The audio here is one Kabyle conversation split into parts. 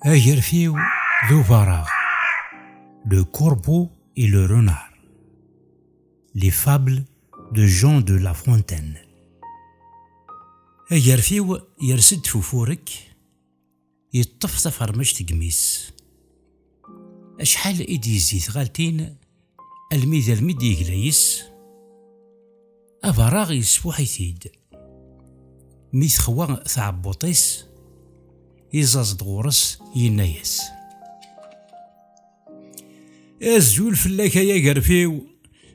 Agerfiw d ubareɣ. Le corbeau et le renard. Les fables de Jean de La Fontaine. Agerfiw yers-d f ufurek, yeṭṭef tafermect deg imi-s. Acḥal i d-yezzi tɣaltin almi d almi d-yegla yes, abaṛaɣ yesfuḥ-it-id. Mi texwa tɛebbuṭ-is, iẓaẓ-d ɣur-s yenna-yas. Azul fell-ak ay agerfiw,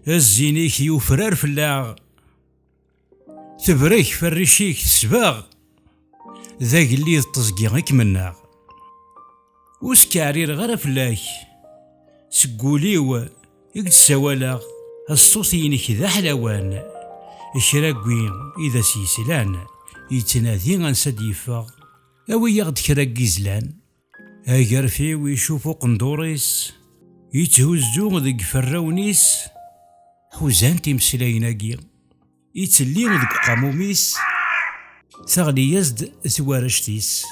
zzin-ik yufrar fell-aɣ. Tebrek ferric-ik tesbeɣ, d agellid teẓgi i kem-nneɣ. Ur skeɛrireɣ ara fell-ak, seg wul-iw i k-d-ssawaleɣ. Ṣṣut-inek d aḥlawan, kra n wi i d as-yeslan, yettnadi ansa d-yeffeɣ. Awi-yaɣ-d kra n yizlan, Agerfiw icuf uqendur-is, itthuzzu deg ferrawen-is, ḥuzant imeslayen-agi. Ittelli deg uqamum-is, teɣli-yas-d twarect-is.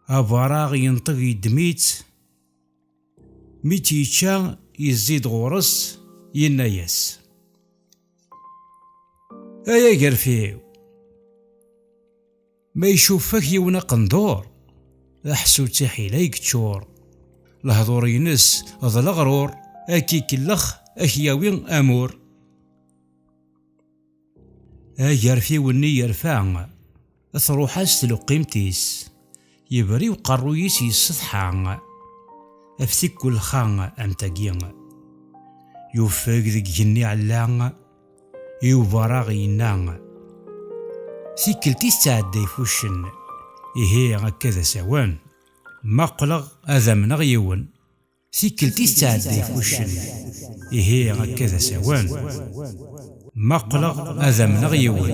Abaraɣ yenṭeg yeddem-itt, mi tt-yečča yezzi-d ɣur-s, yenna-yas. Ay agerfiw! Ma icuffek yiwen aqendur, d aḥsu d tiḥila i yeččur. Lehdur-ines d leɣrur, ad k-ikellex, ad k-yawi amur. Agerfiw-nni yerfa, truḥ-as tleqqimt-is, yebri uqerruy-is yessetḥa, af tikkellxa am tagi. Yuffeg deg igenni ɛella. Yuba raɣ yenna, Tikkelt i tettɛedda i fuccen, ihi akka d asawen. Ma qqleɣ ad amneɣ yiwen. Tikkelt i tettɛedda i fuccen, ihi akka d asawen. Ma qqleɣ ad amneɣ yiwen.